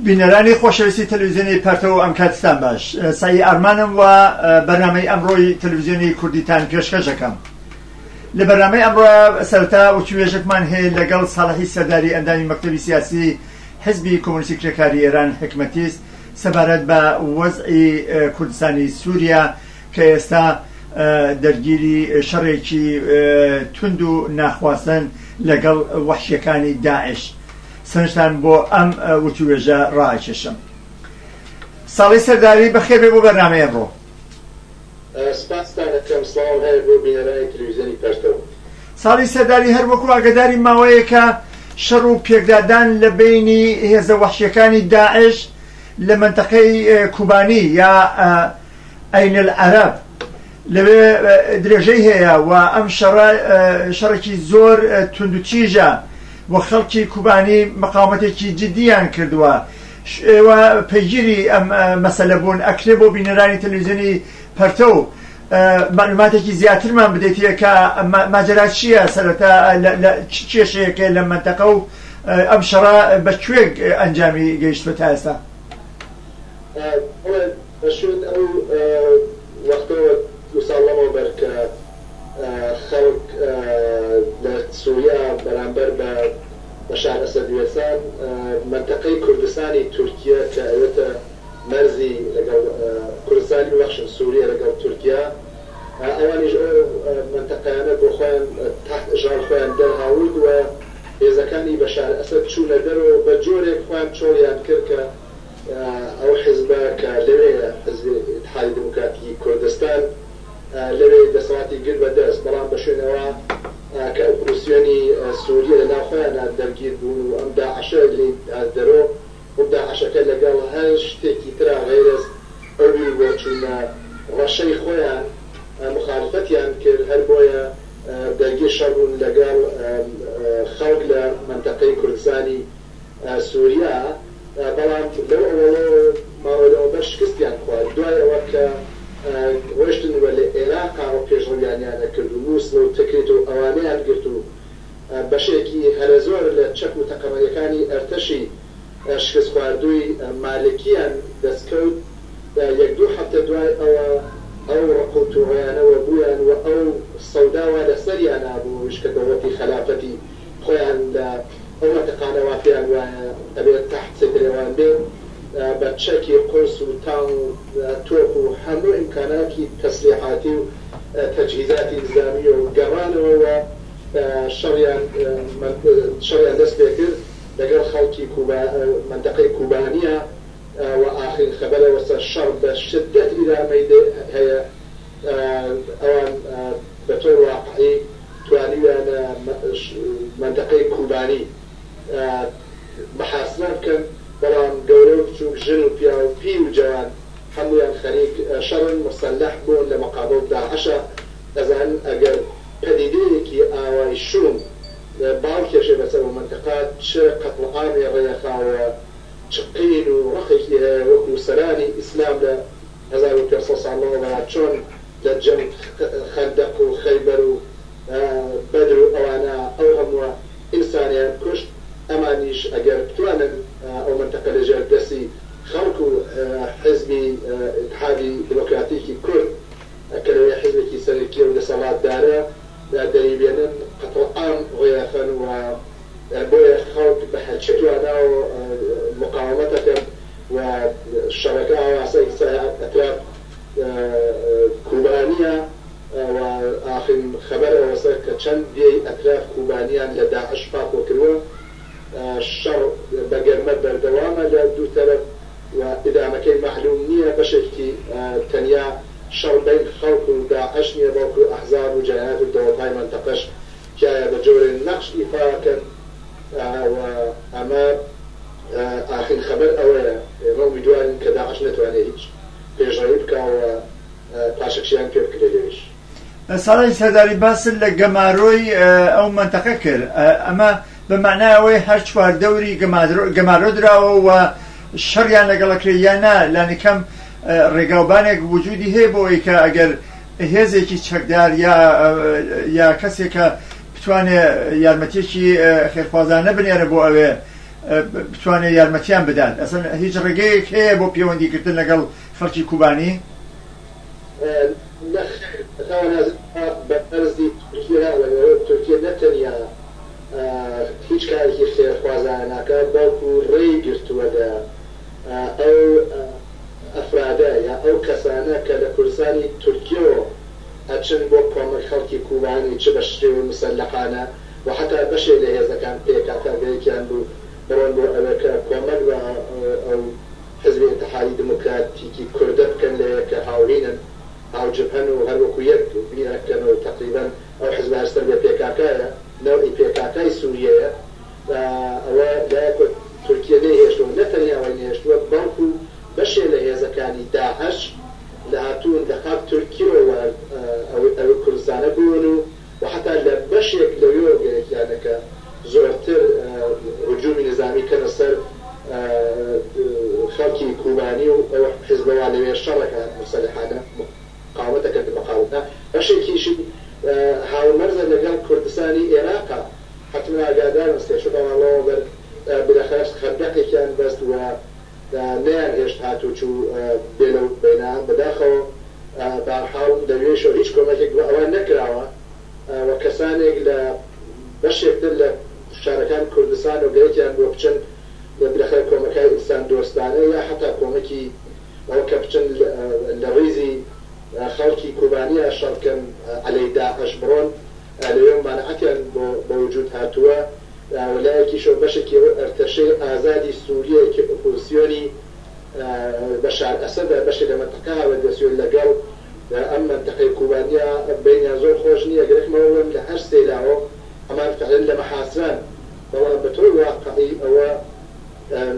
بینەرانی خۆشەویستی تەلویزیۆنی پەرتەو ئەم کاتستان باش سایی ئارمانم و بەرنامەی ئەمڕۆی تەلویزیۆنی کوردیتان پێشکەش دەکەم لە بەرنامەی ئەمڕۆ سەرتا وتوێژێکمان هەیە لەگەڵ ساڵحی سەرداری ئەندامی مەکتەبی سیاسی حزبی کۆمونیستی کرێکاری ئێران حکمەتیست سەبارەت بە وەزعی کوردستانی سووریا کە ئێستا دەرگیری شەڕێکی توند و ناخواستن لەگەڵ وحشیەکانی داعش سەرنجتان بۆ ئەم وتووێژە ڕائەکێشم. ساڵی سەرداری بەخێر بێ بۆ بەرنامەی ئەمڕۆ. سپاستان ئەکەم. سڵاوم هەیە بۆ بینەرانی تەلەویزیۆنی پەرتەو. ساڵی سەرداری هەر وەکو ئاگەداری ماوەیەکە شەڕ و پێکدادان لە بەینی هێزە وەحشیەکانی داعش لە مەنتەقەی کوبانی یا ئەین ئەلعەرەب لەوێ درێژەی هەیە و ئەم شەڕە شەڕێکی زۆر توندوتیژە و خەڵکی کوبانی مقاومەتێکی جددیان کردووە ئێوە پەیگیری ئەم مەسەلە بوون ئەکرێ بۆ بینەرانی تەلویزیۆنی پەرتە و معلوماتێکی زیاترمان بدەیتە کە ماجرا چییە سەرەتا چ کێشەیەکێ لە منتەقە و ئەم شەڕە بە کوێک ئەنجامی گەیشتوە تا ئێستا لە شوێن ئەو وەختەوە دوو ساڵ لەمەوبەر کە خەڵک لە سوریا بەرامبەر بە بەشار ئەسەد وێسان، مەنتەقەی کوردستانی تورکیە کە ئەوێتە مەرزی لەگەڵ کوردستانی ببەخشن سوریە لەگەڵ تورکیا، ئەوانیش ئەو مەنتەقەیانە بۆ خۆیان تحت ئشغال خۆیان دەرهاورد و هێزەکانی بەشار ئەسەد چوونە دەرەوە بە جۆرێک خۆیان چۆڵیان کرد کە ئەو حیزبە کە لەوێیە، حیزبی ئیتحادی دیموکراتی کوردستان، لەوێ دەسەڵاتی گرت بە دەست، بەڵام بە شوێنەوە کە ئۆپۆزسیۆنی سووریە لە ناو خۆیانا دەرگیر بوون و ئەم داعشە لێی هات دەرۆ و داعشەکە لەگەڵ هەر شتێکی ترا غەیرەز ئەو بیر و بۆچوونە ڕەشەی خۆیان موخالفەتیان کرد، هەر بۆیە دەرگیر شەڕ بوون لەگەڵ خەڵک لە مەنتەقەی کوردستانی سوریا، بەڵام لەو ئەوەڵەوە ماوە لە ئەوبەر شکستیان خوارد دوای ئەوە کە ڕۆشتن و لە ئێراقاوە پێشڕەویانیانە کرد و موسڵ و تکریت و ئەوانەیان گرت و بەشێکی هەرەزۆر لە چەک و تەقەمەنیەکانی ئەرتەشی شکست خواردوی مالکیان دەست کەوت یەک دوو هەفتە دوای ئەوە ئەو ڕق و توڕەیانە وەبویان و ئەو سەودا وا لەسەریانا بووش کە دەوڵەتی خەلافەتی خۆیان لە ئەو مەنتقانە وا پێیان وایە ئەبێت تەحت سەیتەرەیوان بێ بە چەکی قورس و تانک و تۆپ و هەموو ئیمکاناتی تەسلیحاتی و تەجهیزاتی نیزامیی و گەڕانەوە و شەڕیان شەڕیان دەست پێ کرد لەگەڵ خەڵکی کوبا مەنتەقەی کوبانیە و ئاخرین خەبەرە وەسە شەڕ بە شدەت ئیدامەی هەیە ئەوان بە تۆ واقعی توانیویانە مەنتەقەی کوبانی محاسبە بکەن، بەڵام گەورە و بچوک، ژن و پیاو، پیر و جەوان هەموویان خەریک شەڕن، مسلح بوون لە مقابڵ داعشا، ئەزانن ئەگەر پەدیدەیەکی ئاوای شوم باڵ کێشێ بەسەر ئەو مەنتەقە چ قەتڵعامی ڕێخا و چ قین و ڕقێکی هەیە وەکو سەرانی ئیسلام لە هەزار و پێنج سەد ساڵ لەمەوبەرا چۆن لە جەنگ خەندەق و خەیبەر و بەدر و ئەوانە ئەو هەمووە ئینسانەیان کوشت ئەمانیش ئەگەر بتوانن ئەو مەنتەقە لە ژێر دەسی خەڵک و حیزبی ئیتحادی دیمۆکراتیکی کورد کە لەوێ حیزبێکی سەرەکیە و دەسەڵاتدارە دەریبێنن قەتڵعام ڕێەخەن و بۆیە خەڵک بە هەرچی تواناوە مقاوەمەت ئەکەن و شەڕەکە ئاواسای کچە ئەتراب کوبانیا و ئاخرین خەبەر ئەوەسە کە چەند دێی ئەتراف کوبانیان لە داعش پاکۆ کروە. شەڕ بە گەرمە بەردەوامە لە دوو تەرەف و ئیدامەکەی مەعلوم نیە. بەشێکتی تەنیا شەڕ بەین خەڵک و داعش نیە بەڵکو ئەحزاب و جەنایات و دەوڵتای مەنتەقەش تیایا بە جۆرێ نەقش ئیفا ئەکەن و ئەمە ئاخرین خەبەر ئەوەیە ئێمە ئومیدوارین کە داعش نەتوانێ هیچ پێشڕەوی بکا و پاشەکشەیان پێ بکرێ لەوێش. ساڵح سەرداری باست لە گەمارۆی ئەو مەنتەقە کرد، ئەمە بە مەعنای ئەوەی هەر چوار دەوری گەمارۆ دراوە و شەڕیان لەگەڵ ئەکرێ یا نا، لانیکەم ڕێگاوبانێک وجودی هەیە بۆ ئەوەی کە ئەگەر هێزێکی چەکدار یا کەسێک کە بتوانێ یارمەتییەکی خێرخوازانە بنێرێ بۆ ئەوێ، بتوانێت یارمەتیان بدات ئەسن هیچ ڕێگەیەک هەیە بۆ پەیوەندیکردن لەگەڵ خەڵکی کوبانی؟ بەرزی تورکیا لەگەڵ تورکیە نەتەنیا هیچ کارێکی خێرخوازانە ناکات بەڵکو ڕێی گرتووە لە ئەو ئەفرادە یا ئەو کەسانە کە لە کوردستانی تورکیەوە ئەچن بۆ کۆمەک خەڵکی کوبانی چ بە شێوەی مسەلەحانە و حەتا بەشێک لە هێزەکان پکک گرێکیان بوو بڕۆن بۆ ئەوێ کە کۆمەک بە ئەو حزبی ئیتحادی دموکراتیکی کوردە بکەن لەوێ کە هاوهینن هاو جبهەن و هەر وەکو یەک بیر ئەکەن و تەقریبەن ئەو حزبە هەر سەر بێ پککایە نەوعی پککای سوریەیە ئەوە لایەکۆ تورکیە نەی هێشتوە نە تەنیا وای نەهێشتوە بەڵکو بەشێ لە هێزەکانی داعش لە هاتوون لە قاپ تورکیەوە وارد ئەوێ ئەوێ کوردستانە بوون و و حەتا لە بەشێک لە وێوەگەیەکیانەکە زۆرتر هجومی نظامی کەنە سەر خەڵکی کوبانی و ئەو حزبە وا لەوێ شەڕەکە موسلحانە مقاومەتەکە کە مقاومە بەشێکیشی هاومەرزە لەگەڵ کوردستانی ئێراقا حەتمەن ئاگادارن سێ چوار مانگەوە بەر بلەخەرەش خەندەقێکیان بەست و نەیان هێشت هاتوچو بێ لەوت بینە بەداخەوە بەهەرحاڵ لەوێشەوە هیچ کۆمەکێک بۆ ئەوان نەکراوە و کەسانێک لە بەشێک تر لە شارەکان کوردستان و گەرەکیان بووە بچن بلەخێر کۆمەکای ئینسان دۆستانە یا حەتا کۆمەکی ئەوە کە بچن لە ریزی خەڵکی کوبانیا شەڕ بکەن عەلەی داعش بڕۆن لەوێ و مەنعەتیان بۆ بەوجود هاتووە و لایەکیشەوە بەشێکی ئەو ئەرتەشەی ئازادی سووریەی کە ئۆپۆزسیۆنی بەشار ئەسەدە بەشێک لە مەنتەقە هاوردەسووێن لەگەڵ ئەم مەنتەقەی کوبانیە بەینیان زۆر خۆش نییە گەرەکمە ئەوە بڵێم لە هەر سێ لاوە و هەمان فعلن لە مەحاسران بەڵام بە تۆی واقعی ئەوە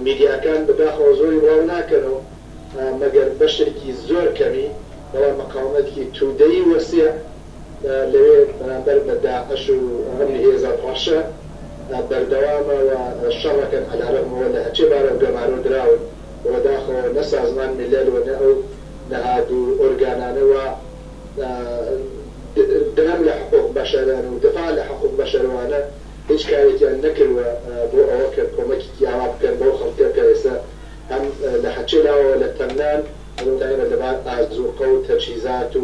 میدیاکان بە داخەوە زۆری بڵاو ناکەنەوە مەگەر بەشێکی زۆر کەمی بەڵام مقاومەتکی تودەی وەسیع لەوێ بەرامبەر بە داعش و ئەم هێزە ڕەشە بەردەوامە و شەڕەکەن عەلەرەغم ئەوە لە هەچێ بارە و گەمارۆ دراون و بەداخەوە نە سازمان میلەل و نە ئەو نەهاد و ئۆرگانانە وا درم لە حقوق بەشەرن و دفاع لە حقوق بەشەرەوانە هیچ کارێکیان نەکروە بۆ ئەوە کە کۆمەکیکی ئاوا بکەن بەو خەڵکە کە ئێستا هەم لە هەچێ لاوەوە لە تەنگنان و بە تایبەت لە بار ئازوقە و تەجهیزات و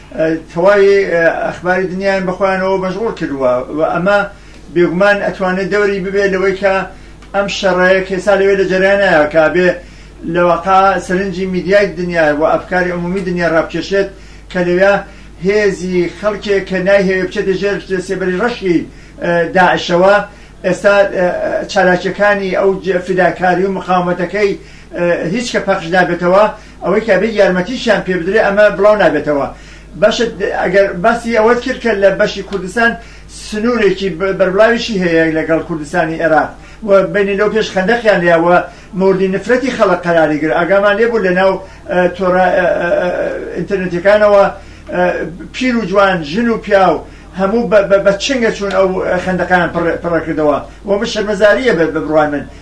تەواوی ئەخباری دنیایان بە خۆیانەوە مەشغوڵ کردووە و ئەمە بێگومان ئەتوانێت دەوری ببێت لەوەی کە ئەم شەڕەیە کێسا لەوێ لە جەریانەیە کە بێ لەوەقا سەرنجی میدیای دنیا و ئەفکاری عمومی دنیا ڕابکێشێت کە لەوێ هێزی خەڵکێک کە نایهەوێ بچێتە ژێر سێبەری ڕەشی داعشەوە ئێستا چالاکیەکانی ئەو فیداکاری و مقاومەتەکەی هیچ کە پەخش نابێتەوە ئەوەی کە بێت یارمەتیشیان پێ بدرێت ئەمە بڵاو نابێتەوە. بەشت ئەگەر باسی ئەوەت کرد کە لە بەشی کوردستان سنوورێکی بەربڵاویشی هەیە لەگەڵ کوردستانی ئێراق و بینی لەو پێش خەندەقیان لێیا و موردی نفرەتی خەڵک قەراری گر ئاگامان لێ بوو لەناو تۆرە ئینتەرنێتەکانەوە پیر و جوان ژن و پیاو هەموو بە چنگە چوون ئەو خەندەقیان پڕەکردەوە و بە شەرمەزاریە بە بڕوای من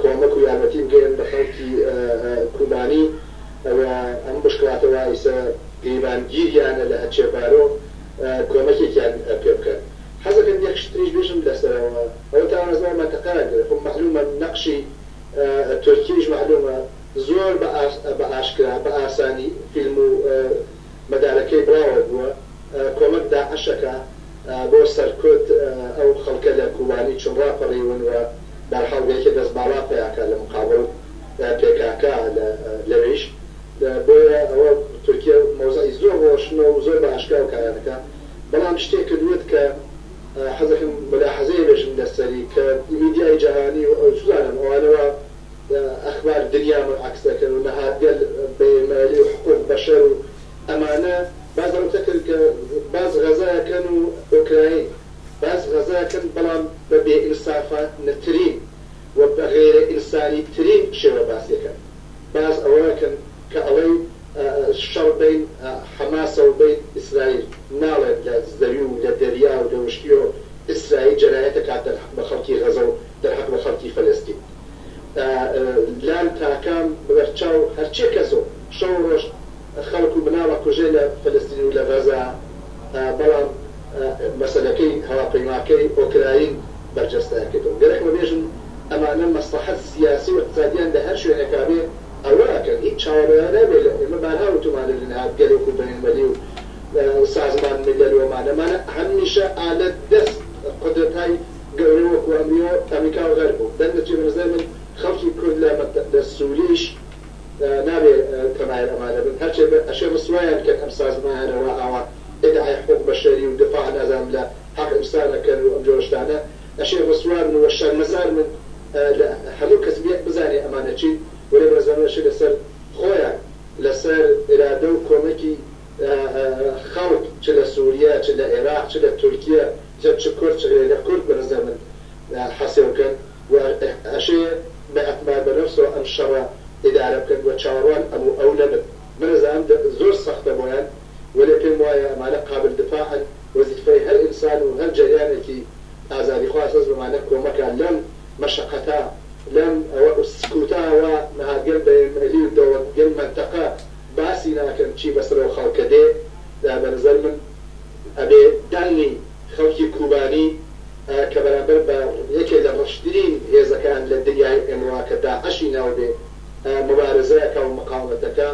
کۆمەک و یارمەتی بگەیەنن بە خەڵکی کوبانی و ئەم بشکڵاتە وایسە گریمانگیریانە لە ئەچێبارۆ کۆمەکێکیان پێ بکەن. حەزەکەم یەک شت تریش بێژم لەسەرەوە ئەوە تاوانە زۆر مەنتقەیان گرت خۆ مەعلومە نەقشی تورکیەیش مەعلومە زۆر بە ئاشکرا بە ئاسانی فیلم و مەدارەکەی بڵاوە بووە کۆمەک داعشەکە بۆ سەر کورد ئەو خەڵکە لە کوبانی چون ڕاپەڕیون و بەرحاڵ بەیەکێ دەست باڵا پیاکا لە مقابڵ پێکاکە لەوێیش بۆیە ئەوە تورکیە مەوزعی زۆر ڕۆشنە و زۆر بە ئاشکراو کارانەکا بەڵام شتێ کردووت کە حەزەکەم مولاحەزەیە بێژم لەسەری کە میدیای جەهانی و ئەوچ زانم ئەوانە وا ئەخبار دنیامان عەکس دەکەن و نەهادگەل بەیرمایلی و حقوق بەشەر و ئەمانە باس لەوە تەکەن کە باس غەزا کەن و ئۆکراین باس غەزا کەن بەڵام بە بێ ئینسافا نەترین و بە غەیرە ئینسانی ترین شێوە باس یەکەن باس ئەوە ئەکەن کە ئەڵەی شەڕ بەین حەماسە و بەین ئیسرایل ناڵێن لە زەوی و لە دەریا و لە وشکی و ئیسرایل جەنایەتە کاتە بە خەڵکی غەزە و دەهات وە خەڵکی فەلەستین ئە لان تاکام بەر چاو هەرچێ کەسۆ شەوو ڕۆژ خەڵک و مناڵە کوژێ لە فەلەستین و لە غەزە ئە بەڵام ئە مەسەلەکەی هەواپەیماکەی ئۆکراین بەرجەستەیان کردەوە گەرەکمە بێژم ئەمانە مەسڵەحەت سیاسی و ئقتسادیان لە هەر شوێنێکا بێ ئەوە ئەکەن هیچ چاوە ڕێیان نابێ لە ئێمە بارها وتومانە لە نهاد گەلۆک و بەینمەلی و سازمان ملل ومانە مانە هە میشە ئالە دەست قودرەتای گەورەی وەکو ئەمریۆ ئەمریکا و غەرب و دەنگ دەچێ بەنزای من خەڵکی کورد لە مەت لە سوریەیش نابێ تەمایل ئەمانە بن هەرچێ بێ ئەشێ ڕسوایان کەن ئەم سازمانانە وا ئاوا ئیدعای حقوق بەشەری و دفاع نازانم لە حەق ئنسان ئەکەن و ئەم جۆرە شتانە ئەشێ ڕسوا بن و شەرمەزار بن لە هەموو کەس بێ بزانێ ئەمانە چین وەلێ بەنزای من ئەشێ لەسەر خۆیان لەسەر ئیرادە و کۆمەکی خەڵک چ لە سوریە چ لە ئێراق چ لە تورکیە جە چ کورچ ێگە کورد بە رزە من حە سێو کەن و ئە شێ بە ئە تمار بە نەفسۆ ئەم شە رە ئدارە بکەن و چاوەڕوان ئەم و ئەو نە بن بە رزە ئەم زۆر سە ختە بۆیان و لێ پێم وایە ئە مانە قابل دفاعن وە زیفە ی هە رئنسان و هە رجەریانە کی ئازادیخواز ئە زمانە کۆ مە کە لەم مە شە قەتە لەم ئە و سکوتە وە نها گەل بە م لی و دە وە گەل مە نتە قە باسی ناکەن چی بە سە رۆ خە ڵکە دێ بە رزە من ئەبێ داننین خەڵکی کوبانی کە بەرامبەر بە یەکێ لە ڕەشترین هێزەکان لە دنیای ئمڕا کە داعشی ناوبێ موبارزە ئەکا و مقاومەت ئەکا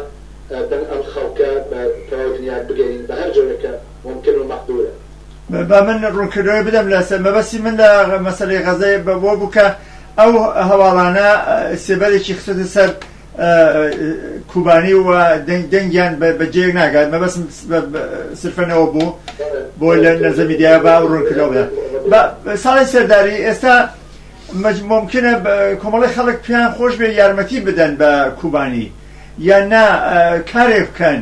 بن ئەم خەڵکە بە تەواو دنیا بگەنین بە هەر جۆرێک کە مومکن و مەقدورە. با من ڕوونکردنەوەی بدەم لە سەر مەبەستی من لە مەسەلەی غەزە بەوە بوو کە ئەو هەواڵانە سێبەرێکی خستۆتە سەر کوبانی و دەنگیان بە جێک ناگات مەبەسم سرفەنەوە بوو بۆ لە نەزە میدیا با ڕوونکردەوە بدە ساڵی سەرداری ئێستا ممکنە کۆمەڵی خەڵک پێیان خۆش بێ یارمەتی بدەن بە کوبانی یان نا کارێک بکەن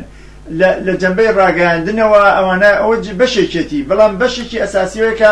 لە جەمبەی ڕاگەاندنەوە ئەوانە ئەوە بەشێکێتی بەڵام بەشێکی ئەساسیەکە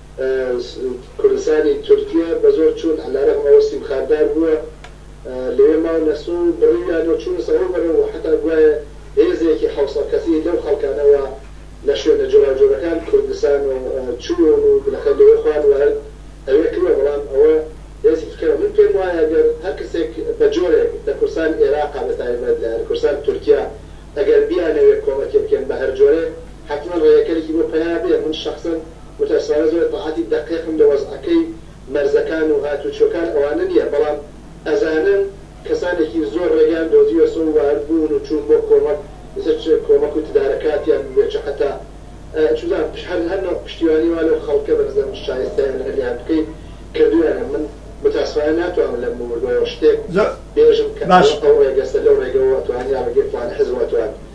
کوردستانی تورکیە بە زۆر چوون علیرغم ئەوە سیم خارت دار بووە لەوێ ماون نەسرو بڕیویانەو چوونەسە ئەو بەرەو وە حەتا گوایە هێزێکی حەوسەد کەسی لەو خەڵکانەوە لە شوێنە جۆراوجۆرەکان کوردستان و چوون و بلەخە لەوێ خوان وارد ئەوێ کروە بەڵام ئەوە هێزیکی کەمە من پێم وایە گەر هەر کەسێک بە جۆرێک لە کوردستان ئێراقا بە تایبەت لە کوردستان تورکیە ئەگەر بیانەوێ کۆمەکێ بکەن بە هەر جۆرێ حەتمەن ڕێگەکەرێکی بۆ پەیا بێ من شەخسەن متاسفانە زۆر ئیتلاعاتی دەقیقم لە وەزعەکەی مەرزەکان و هاتووچۆکان ئەوانە نییە، بەڵام ئەزانن کەسانێکی زۆر ڕێگەیان دۆزیوە سۆ و وارد بوون و چوون بۆ کۆمەک ئیتر چ کۆمەک و تدارە کاتیان ببێ چ حەتا چ بزانم پش هەر هەر نۆع پشتیوانی وا لەو خەڵکە بە نزە من شایستەیان هەر لێیان بکەیت کردوویانە من متاسفانە ناتوانم لەم بووردوەوە شتێک زۆر بێژم کە باشە. ئەوە ئەو ڕێگەسە لەو ڕێگەوە ئەتوان یا ڕێگەی فڵانە حزب ئەتوان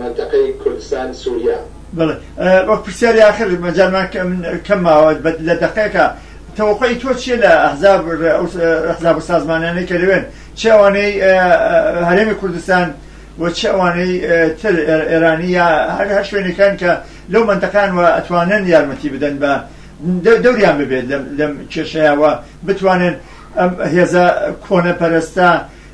مەنتەقەی کوردستان سوریا. بەڵێ وەک پرسیاری ئاخر مەجالمان کەم ماوە لە دەقێکە تەوەقوعی تۆ چیە لە ئەحزاب ئەحزاب و سازمانانەی کە لەوێن چ ئەوانەی هەرێمی کوردستان و چ ئەوانەی تر ئێرانی یا هەر هەر شوێنەکان کە لەو مەنتەقان و ئەتوانن یارمەتی بدەن بە دەوریان ببێت لەم کێشەیە و بتوانن ئەم هێزە کۆنە پەرستە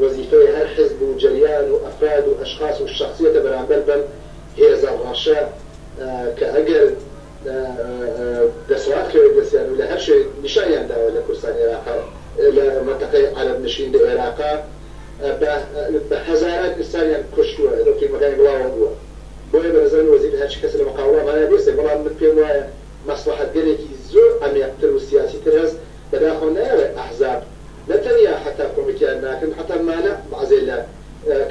وەزیفەی هەر حزب و جەریان و ئەفراد و ئەشخاس و شەخسیەتە بەرامبەر بەم هێزە ڕەشە کە ئەگەر دەسەڵات کەوێت دەستیان و لە هەر شوێنێک نیشانیان داوە لە کوردستانی عێراقا لە مەنتەقەی عەرەب نشین لە ئێراقا بە بە هەزاران ئینسانیان کوشتوە ئێدە فیلمەکانی بڵاوە بوە بۆیە بە نەزانی وەزیفەی هەرچ کەسە لە مەقاوڵا مانای بێسێ بەڵام من پێم وایە مەسڵەحەت گەلێکی زۆر عەمێقتر و سیاسی تر هەس بەداخەوە نایەڵێ ئەحزاب نە تەنیا حەتا کۆمێتیان ناکەن حەتا مانع بەعزێ لە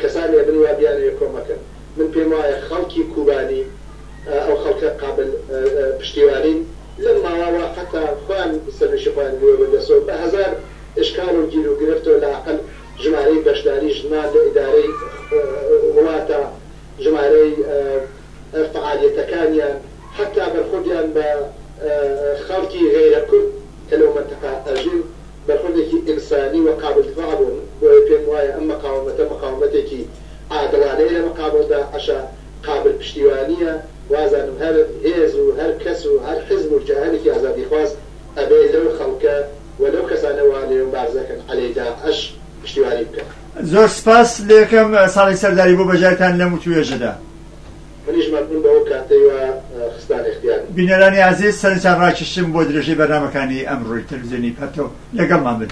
کەسانی ئەبن وا بیانەوێ کۆمەکەن من پێم وایە خەڵکی کوبانی ئەو خەڵکە قابل پشتیوانین لەم ماواوا حەتا خۆیان سەرویشی خۆیان گرێ بە دەسەوە بە هەزار ئشکال و گیر و گرفتەوە لە ئەقل ژمارەی بەشداری ژنان لە ئیدارەی وڵاتە ژمارەی فەعالیەتەکانیان حەتا بەرخۆدیان بە خەڵکی غەیرە کورد کە لەو مەنتەقە ئەژین بەرخۆردێکی ئینسانی و قابل دفاع بوون، بۆیە پێم وایە ئەم مەقاومەتە مەقاومەتێکی عادڵانەیە لە مەقابڵ داعشا قابل پشتیوانیە، وازانم هەر هێز و هەر کەس و هەر حزب و کیانێکی ئازادیخواز ئەبێ لەو خەڵکە و لەو کەسانە وا لێ مبارزە دەکەن عەلەی داعش پشتیوانی بکەن. زۆر سپاس لەکەم ساڵی سەرداری بۆ بەژایتان لەم وتوێژەدا. منیش مەمنون بە ئەو کاتەی وا خستانە اختیارم. بینەرانی ئازیز سەرنجتان ڕاکیشتم بۆ درێژەی بەرنامەکانی ئەمڕۆی تەلەفزیۆنی پەرتەو. لەگەڵمان بن.